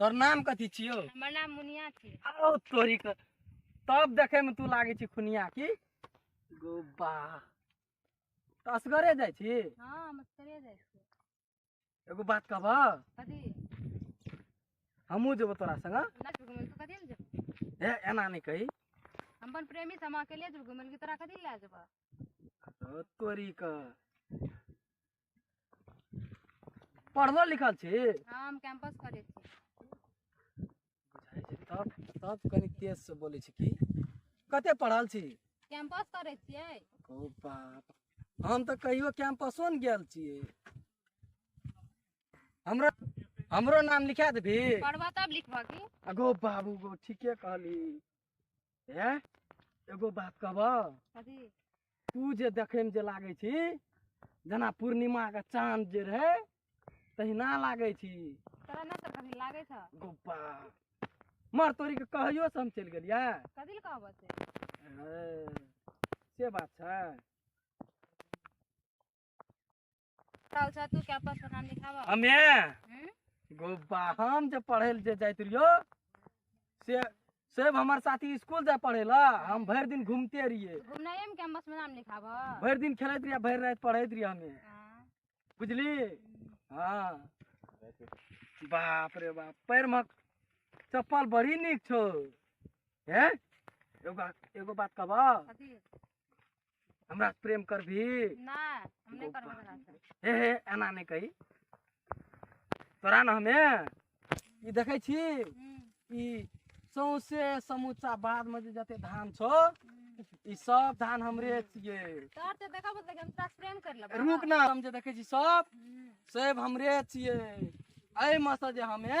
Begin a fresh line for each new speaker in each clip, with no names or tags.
तोर नाम कथी छियो हमर नाम मुनिया छी आओ तोरी के तब देखे में तू लागे छी खुनिया की गोबा तो असगरे जाय छी हां हम असगरे जाय छी एगो बात कहबा कथी हमहू जेबो तोरा संग हाँ? ए एना नहीं कही हम अपन प्रेमी से हम अकेले जेबो घुमल की तोरा कथी ले जेबा तोरी के पढ़लो लिखल छी हाँ हम कैंपस करे छी बुझाइ छै तब तब कनी तेज से बोलै छी की कते पढ़ल छी कैंपस करे छियै ओ बाप हम तऽ कहियो कैंपसो ने गेल छियै हमरा हमरो नाम लिखा देबही पढ़बा तब लिखबा की अगो बाबू गो ठीके कहली ए एगो बात कहब कथी तू जे देखे में जे लागे छी जेना पूर्णिमा के चांद जे रहे तहिना लागे छी तोरा ना सब कथी लागे छ गोपा मर तोरी के कहैयो से हम चलि गेलियै कथी ले कहबो से ए, से बात छै साल सा तू क्या पास नाम लिखावा हमे हम्म? गोबा हम जे पढ़े ले जे जाइत रहियो से सेब हमार साथी स्कूल जाए पढ़े ला हम भर दिन घूमते रहिए घूमनाइए में कैंपस में नाम लिखावा भर दिन खेलत रहिए भर रात पढ़त रहिए हमें हाँ। बुझली हाँ बाप रे बाप पैर में चप्पल बड़ी निक छो हैं एगो बात एगो बात कहबा कथी हमरा से प्रेम करबी नहीं हम नहीं करबो तोरा से हे हे एना नहीं कही तोरा ना हमे ई देखै छी हम्म, ई सौंसे समूचा बाद में जे जते धान छौ हम्म। ई सब धान हमरे छियै तोहर से देखा बोलते हम तोरा से प्रेम कर लेबो रुक ना हम जे देखै छी सब हम्म, सब हमरे छियै एहिमे से जे हमे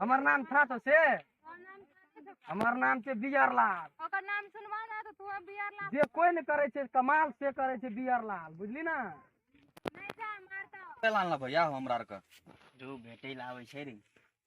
हमर नाम था तो से हमर नाम छै बियर लाल ओकर नाम सुनवा ना तो तू बियर लाल जे कोई ने करे छै कमाल से करे छै बियर लाल बुझली ना नहीं जा मारता लाल ना भैया हमरा आर के जो भेटै लावे छै रे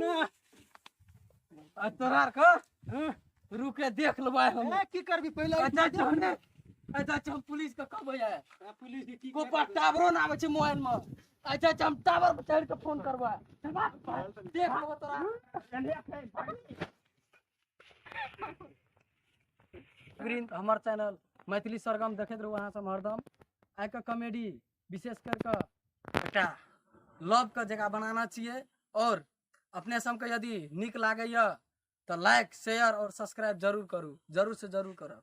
না আর তোর আর কর হ্যাঁ। रुके देख लो भाई हम ए, की करबी पहिले अच्छा चल ने अच्छा चल पुलिस का कब आया ए, पुलिस के की को पर टावरो ना आवे छै मोबाइल में अच्छा चल हम टावर पर चढ़ के फोन करबा चल बा, देख लो तोरा ग्रीन हमर चैनल मैथिली सरगम देखैत रहू अहाँ सब हरदम आइ के कॉमेडी विशेष कर कऽ एकटा लवके जगह बनाना चाहिए आओर अपने सबके यदि नीक लागैए तऽ लाइक शेयर आओर सब्सक्राइब जरूर करू जरूरसँ जरूर करब